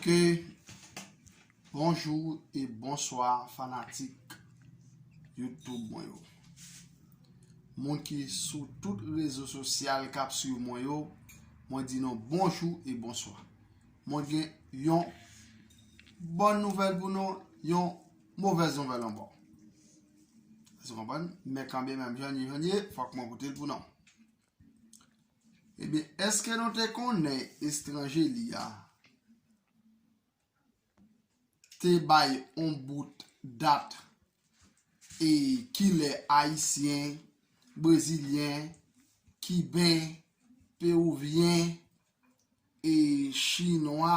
Ok Bonjou e bonswa fanatik Youtube mwen yo Moun ki sou tout rezo sosyal kap swiv mwen yo Mwen di nou bonjou e bonswa Mwen gen yon Bon nouvèl pou nou Yon Movèz nouvèl ankò. Èske w konprann? Men kanbe menm jan ni jan ni, fòk mwen koute l pou non. Ebyen, èske nou te konnen estranje li a te bay on bout dat e ki lè Ayisyen, Brezilyen, Kiben, Pewouvyen e Chinwa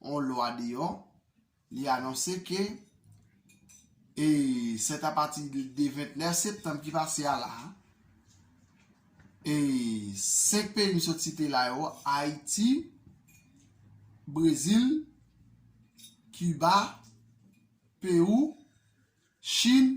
yon lwa deyò, li anonse ke e sèt apati de 29 septanm ki pase a la, e 5 peyi m sot site la yo, Ayiti, Brezil, Kiba, Pewou, Chin,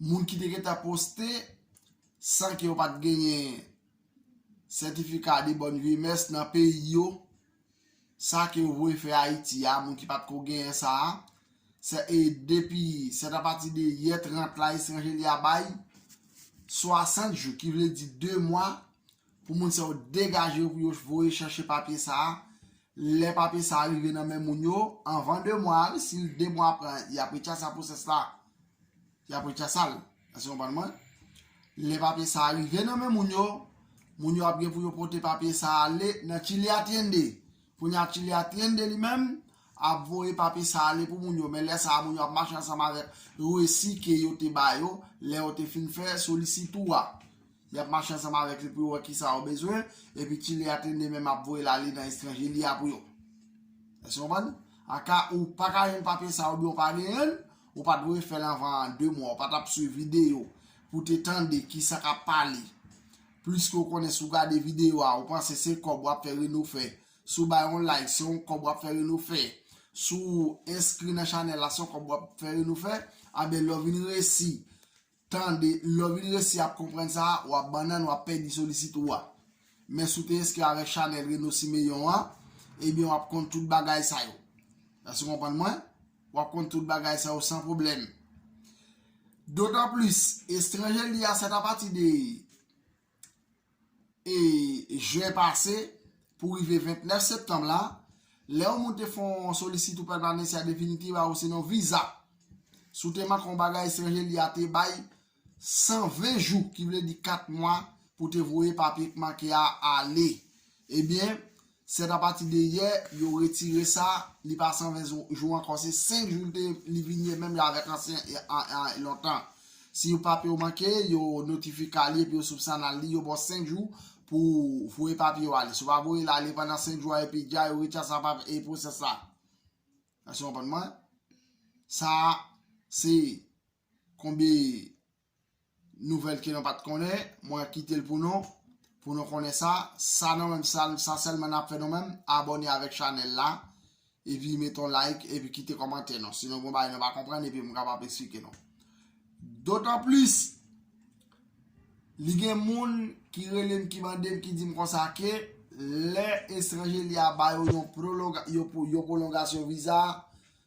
Moun ki te gentan poste san ke yo pat genyen sètifika de bòn vye mès nan peyi yo, sa ke yo voye fè Ayiti a, moun ki pat ko genyen sa a, sè e depi sèt apati de yè 30 la estranje li a bay 60 jou ki vle di 2 mwa Pou moun sa yo degaje yo pou yo voye chache papye sa a. Lè papye sa a rive nan men moun yo, anvan 2 mwa, si 2 mwa pran, y ap rechasa pwosès la. Y ap rechasa l. Èske nou konprann mwen? Lè papye sa a rive nan men moun yo, moun yo ap gen pou yo pote papye sa a ale nan Chile Atiende. Kounye a Chile Atiende li menm ap voye papye sa a ale pou moun yo. Men lè sa a moun yo ap mache ansanm avèk resi ke yo te ba yo lè yo te fin fè solisitou a. Y ap mache ansanm avèk li pou yo wè ki sa yo bezwen, epi Chile ak Linde menm ap voye Lali nan estranje li a pou yo. Èske w konprann? An ka ou pa ka jwenn papye sa yo oubyen ou pa genyen l, ou pa t dwe fè l anvan de mwa. Ou pa t ap swiv videyo pou w te tande ki sa k ap pale. Pliske ou konnen si w gade videyo a, ou panse se kòb w ap fè Reno fè. Si w bay yon like, se yon kòb w ap fè Reno fè. Si w enskri nan chanèl la, se yon kòb w ap fè Reno fè. Anben lè w vin resi Tande, lè w vin resi ap konprann sa, w ap bannann, w ap pèdi solisit ou a. Men si w te enskri avèk chanèl Reno Siméon an, ebyen w ap konn tout bagay sa yo. Èske w konprann mwen? W ap konn tout bagay sa yo san pwoblèm. Dotanplis, Estranje li a, sèt apati de. e juin pase pou rive 29 septanm la, lè yon moun te fè yon solisite oupè Permanencia Definitiva osinon viza, si w te manke yon bagay etranje li a te bay 120 jou ki vle di 4 mwa pou te voye papye k manke a ale. Ebyen, Sèt apati de yè yo retire sa li pa 120 jou ankò se 5 jou li vin ye menm jan avèk ansyen lontan si yon papye w manke yo notifika li epi yo soupsanal li yo baw 5 jou pou voye papye w ale si w pa voye l ale pandan 5 jou a epi dja yo retire sa pap e pwosès la èske w konprann mwen sa se konbe Nouvèl ke nou pat konnen, mwen kite l pou nou, pou nou konnen sa, sa nou menm sa, sa sèlman nap fè nou menm, abòne avèk chanèl la, epi mete yon like, epi kite kòmantè nou, si nou gen yon bagay nou pa konprann epi m kapab esplike nou. Dotan plis, li gen moun ki rele m ki mande m ki di m konsa ke, lè estranje li a ba yo yon prolonga, yon pwolongasyon viza,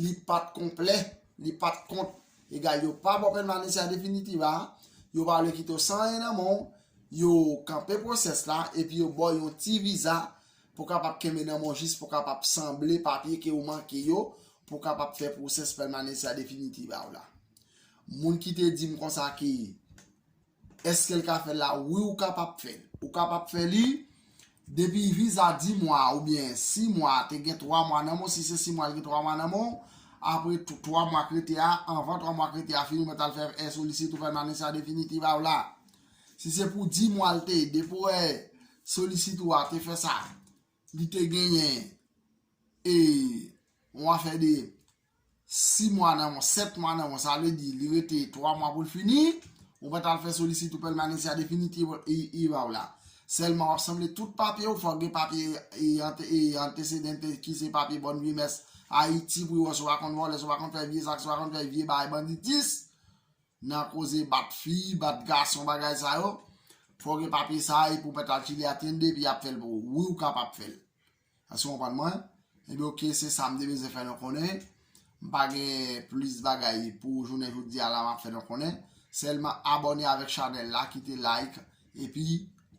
Li pat konplè, li pat kont. Egal yo pa baw pèmanis an definitiv a, yo pa vle kite w san anyen nan men w, yo kanpe pwosès la epi yo baw yon ti viza pou kapab kenbe nan men w jis pou kapab sanble papye ke ou manke yo pou kapab fè pwosès pèmanis an definitiv a w la. Moun ki te di m konsa ke Eskel ka fèl la wi ou kapab fèl ou kapab fè li depi viza 10 mwa ou byen 6 mwa te gen 3 mwa nan menw si se 6 mwa li gen 3 mwa nan menw apre 3 mwa k rete a anvan 3 mwa k rete a fini ou mèt al fè e solisit ou fèl nan lesa definitiv a ou la si se pou 10 mwa l te depo e solisit ou a te fè sa li te genyen e ou a fè de. 6 mwa nan 1, 7 mwa nan 1, sa vle di li rete 3 mwa pou l fini, ou pa t al fè solisite ou pèmanesia definitiva iva w la. Sèlman w ap sanble tout papye w, fò w gen papye antecedentes ki se papye bòn vimès Ayiti pou yo wè si w pa konn vòlè, si w pa konn fè vye zak, si w pa konn fè vye bagay banditis, nan koze bat fi, bat gason bagay sa yo, fò w gen papye sa a epi w pa t al chili atyende epi y ap fè l pou ou. Wi ou kapab fè l. Èske w konprann mwen? Ebyen ok, se sa m te bezwen fè nou konnen. M pa gen plis bagay pou jounen jodi a la m ap fè nou konnen. Sèlman abòne avèk chanèl la, kite like, epi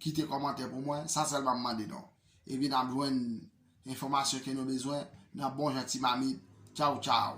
kite kòmantè pou mwen. Sa sèlman m mande nou. Epi n ap jwenn enfòmasyon ke nou bezwen nan bon jan ti mamit. Tchaw tchaw!